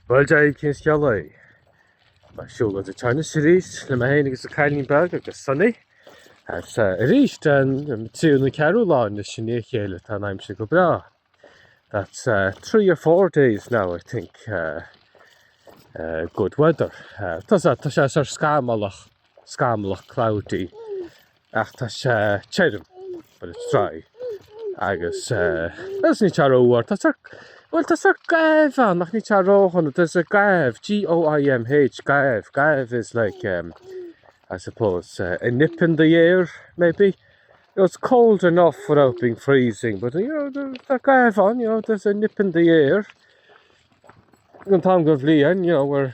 Bhuel tá cineál scamallach. Muid ag siúl go deas arís le mé féin agus a cailín beag agus Sonny. Is arís an tríú nó ceathrú lá i ndiaidh a chéile tá an aimsir go breá. That's uh, three or four days now I think uh, uh, good weather. Uh, tá sé tá sé sórt scamallach, scamallach cloudy. Ach tá sé tirim, but it's dry, agus bhuel ní tear uabhar, tá fear, bhuel tá fear gaibh ann ach ní tear ródhona, there's a gaibh, G-O-I-M-H, gaibh, gaibh is like um, I suppose uh, a nip in the air maybe, you know, it's cold enough without being freezing, but you know, the, the gaibh on, you know, there's a nip in the air. An tam go bhliain, you know, we're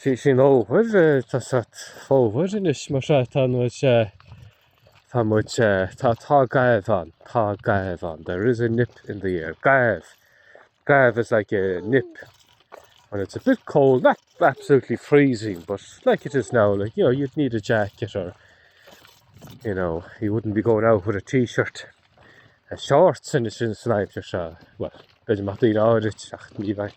Bhí sin over, tá seo over anois mar seo tá muid eh, tá muid eh, tá tá gaibh ann, tá gaibh ann, there is a nip in the air, gaibh, gaibh is like a nip and it's a bit cold, not absolutely freezing but like it is now, like you know you'd need a jacket or you know you wouldn't be going out with a t-shirt a shorts in a sin san aimsir seo, well, beidir maith daoine áirit ach ní bheith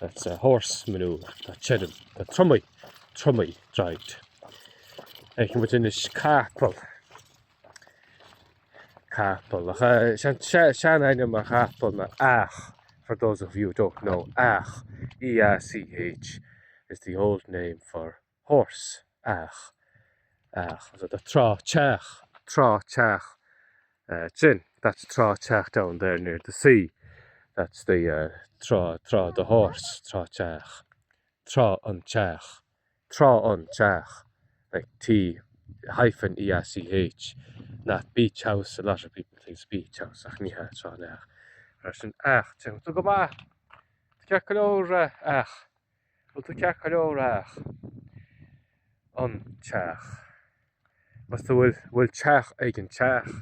That's a horse manure, tá tirim, tá tromaí, tromaí dried. Ag mu in is capal. Capal. Sean aine mar capal na ach, for those of you who don't know, ach, E-A-C-H is the old name for horse, each, each, the Trá Teach, Trá Teach, sin, that's Trá Teach down there near the sea, that's the trá, trá the horse, trá teach, trá an teach, trá an teach, like T hyphen E A C H, not beach house, a lot of people think beach house, ach ní hea, trá an each, ar son each, tuigeann tú go maith, ceart go leor each. Bhfuil tú ceart go leor a each an t-each. Bhfuil tú bhfuil teach ag an t-each.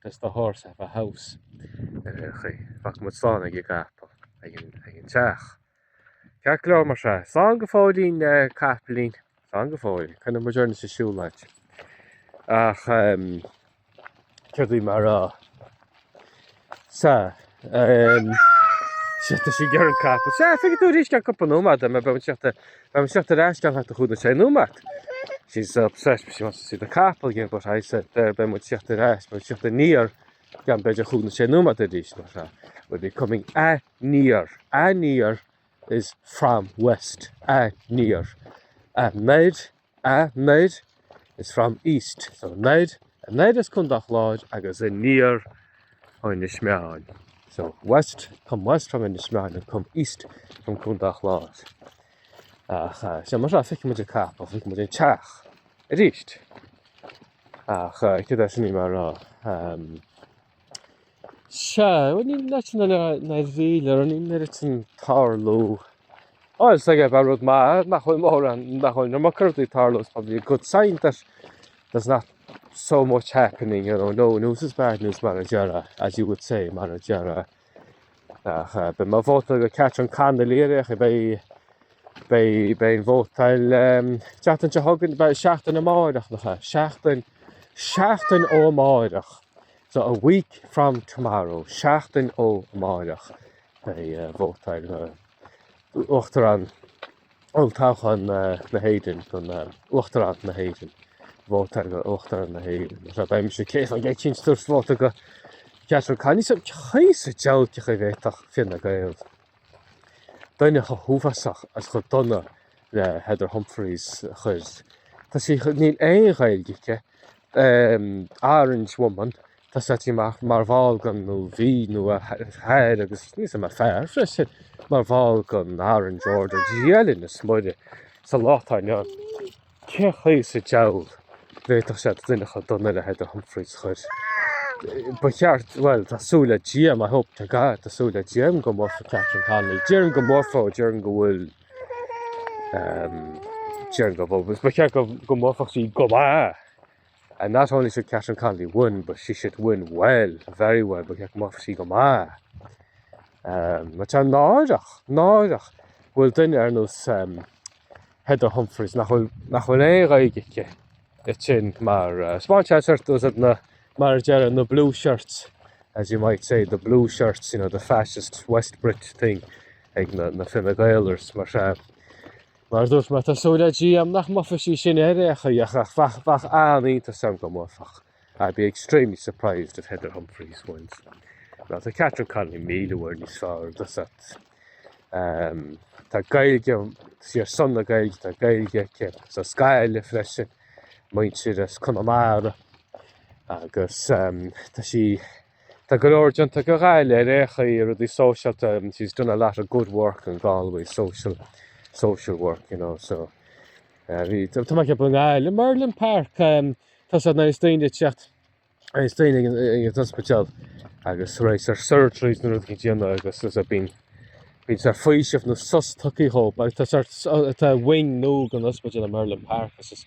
Does the horse have a house? Sea d'fhág muid slán ag an gcapall ag an ag an t-each. Ceart go leor mar sin. Slán go fóillín a chapaillín. Slán go fóillín. Coinneoidh muid orainn sa siúlóid. Ach ehm Caithfidh mé rá le Seachtain seo go bhfuil an capall sea feicfidh tú arís i gceann cúpla nóiméad beidh muid ag teacht beidh muid ag teacht ar ais i gceann thart ar chúig nó sé nóiméad. She's so obsessed with she wants to see the capall again but I said there beidh muid ag teacht ar ais beidh ag teacht aniar i gceann b'fhéidir cúig nó sé nóiméad arís mar sin we'll be coming aniar aniar is from west aniar anoir anoir is from east, so anoir, anoir as Contae an Chláir agus aniar ó Inis Meáin, so west, come west from Inis Meáin and come east from Contae an Chláir. Ach eh, sea mar sin feicfimid an capall, feicfimid an t-each arís. Ach eh, cad é sin í mar rá? Ehm. Sea, bhuel sna níl a bhfuil ar an imeacht sin ag tarlú. Bhuel, is dóigh gurb é rud maith nach bhfuil mórán, nach bhfuil an iomarca rudaí ag tarlú, it's probably a good sign that there's not so much happening, you know, no news is bad news mar a déarfá, as you would say, mar a déarfá. Ach beidh mo vóta do Catherine Connolly ar aon chaoi. Beidh an vótáil seachtain seo chugainn beidh seachtain amáireach nach ea? Seachtain seachtain ó amáireach. So a week from tomorrow, seachtain ó amáireach beidh vótáil uachtarán Olltoghchán na hÉireann chun Uachtarán na hÉireann. Vótáil do Uachtarán na hÉireann. Is beidh mise cé go gcaithfinn ag tabhairt vóta do Catherine Connolly sa gcaoi is deacair go bhféadfadh Fine Gael duine chomh huafásach agus chomh dona le Heather Humphreys a chur. Tá sí, níl aon Ghaeilge aici, Orange woman, Tá sé tíocht amach mar bhall den Lámh Nua Oir agus ní is ea mar fear freisin mar bhall den Aran Jordan Ghiailin na Smuire sa lá atá inniu ann. Cé chaoi sa diabhal bhféadfadh sé do dhuine chomh dona le Heather Humphreys chuir ba cheart, bhuel tá súil le Dia agam, I hope to God tá súil le Dia agam go mbuafaidh Catherine Connolly. Déarfainn go mbuafaidh ó déarfainn go bhfuil déarfainn go bhfuil, ba cheart go mórfar sí go maith. And not only should Catherine Connolly win, but she should win well, very well, ba cheart go mbuafadh sí go maith. Um, Mar tá náireach, náireach, go bhfuil duine ar nós um, Heather Humphreys nach bhfuil, nach bhfuil aon Ghaeilge aici is sin mar uh, small chance hurt those na, mar a déarfá na blue shirts, as you might say, the blue shirts, you know, the fascist West Brit thing ag na, na Fine Gaelers, mar uh, Mar a dúirt mé tá súil le Dia agam nach mbuafaidh sí sin ar aon chaoi ach bheadh bheadh an-iontas orm dá mbuafadh. I'd be extremely surprised if Heather Humphreys wins. Tá Catherine Connolly míle uair níos fearr, tá a fhios agat. Um, tá Gaeilge, sí ar son na Gaeilge tá Gaeilge aici sa scéal freisin, muintir as Conamara agus um, tá sí Tá go leor déanta do Ghaillimh ar aon chaoi, rudaí sóisialta, she's done a lot of good work in Galway, social social work, you know, so eh, bhí tá tá mé ag ceapadh i nGaillimh, Merlin Park, em, tá a fhios agat nuair atá daoine ag teacht eh, is daoine ag an ag an ospidéal agus tar éis ar surgeries nó rud a dhéanamh agus there's a bíonn bíonn sórt faoiseamh nó sos tucaí hope agus tá sórt tá wing nua den ospidéal in Merlin Park agus is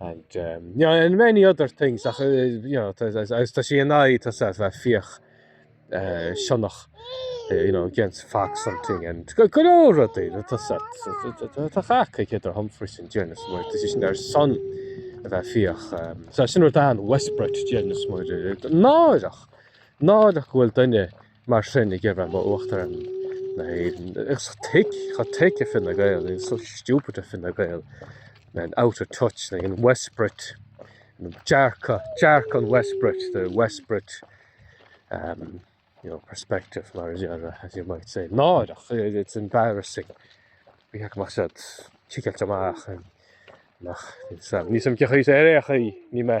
And um, you know, and many other things. Ach, you know, agus tá sí in aghaidh tá a fhios agat a bheith ag fiach uh, sionnach, you know, against fox hunting, and go go leor rudaí tá a fhios agat tá cac Heather Humphreys i ndáiríre, mar tá sí sin ar son a bheith ag fiach. Um, so sin rud an West Brit i ndáiríre, náireach, náireach go bhfuil duine Mar sin ag iarraidh a bheith ina Uachtarán na hÉireann. Is tic, cha tic i Fine Gael, it's so stupid i Fine Gael, and out of touch na in West Brit, dearcadh, dearcadh an West Brit, the West Brit um, you know, perspective mar a déarfá, as you might say. Náireach, it's embarrassing. Bhí heach mar siad tícailt amach nach níos am cé chaoi ar aon chaoi ní mé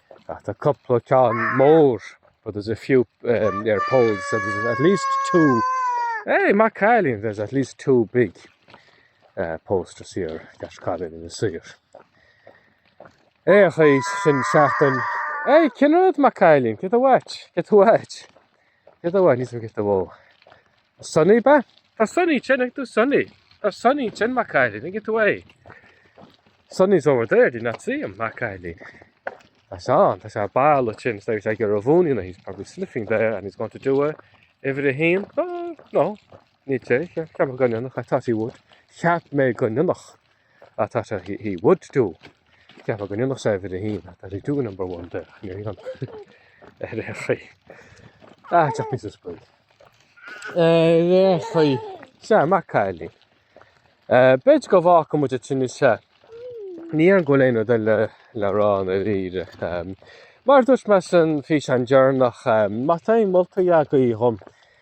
ach tá cúpla ceann mór but there's a few um, there poles so there's at least two hey Matt Cailín there's at least two big uh, posters here Cash Cailín in the saor é a chuid sin seachtain hey cin rud Matt Cailín get a watch get a watch Céard a bhain níos mó giosta bhó? Cá bhfuil Sonny, Ben? Tá Sonny, an bhfeiceann tú Sonny? Tá Sonny ansin, mo chailín, an bhfeiceann tú é? Sonny's over there, do you not see him, mo chailín? Tá sé ann, tá sé ar ball ó tinn, ag ar a bhúin, you know, he's probably sniffing there and he's going to do a, uimhir a haon, oh, no, Ní hea, cheap mé go ndéanfadh I thought he would, cheap mé go ndéanfadh I thought he would do, cheap mé go ndéanfadh sé uimhir a haon, I thought he'd do number one there, ní raibh ann ar aon chaoi. Ah, deacht mé sa scoil. Ar aon chaoi, sea, Mac Cailín. Eh, b'fhéidir go bhfágfaidh muid ansin é, sea. Ní dhéarfainn go bhfuil aon rud eile le rá dáiríre. Mar a dúirt mé san físeán deireanach, má tá aon moltaí agaibh dhom,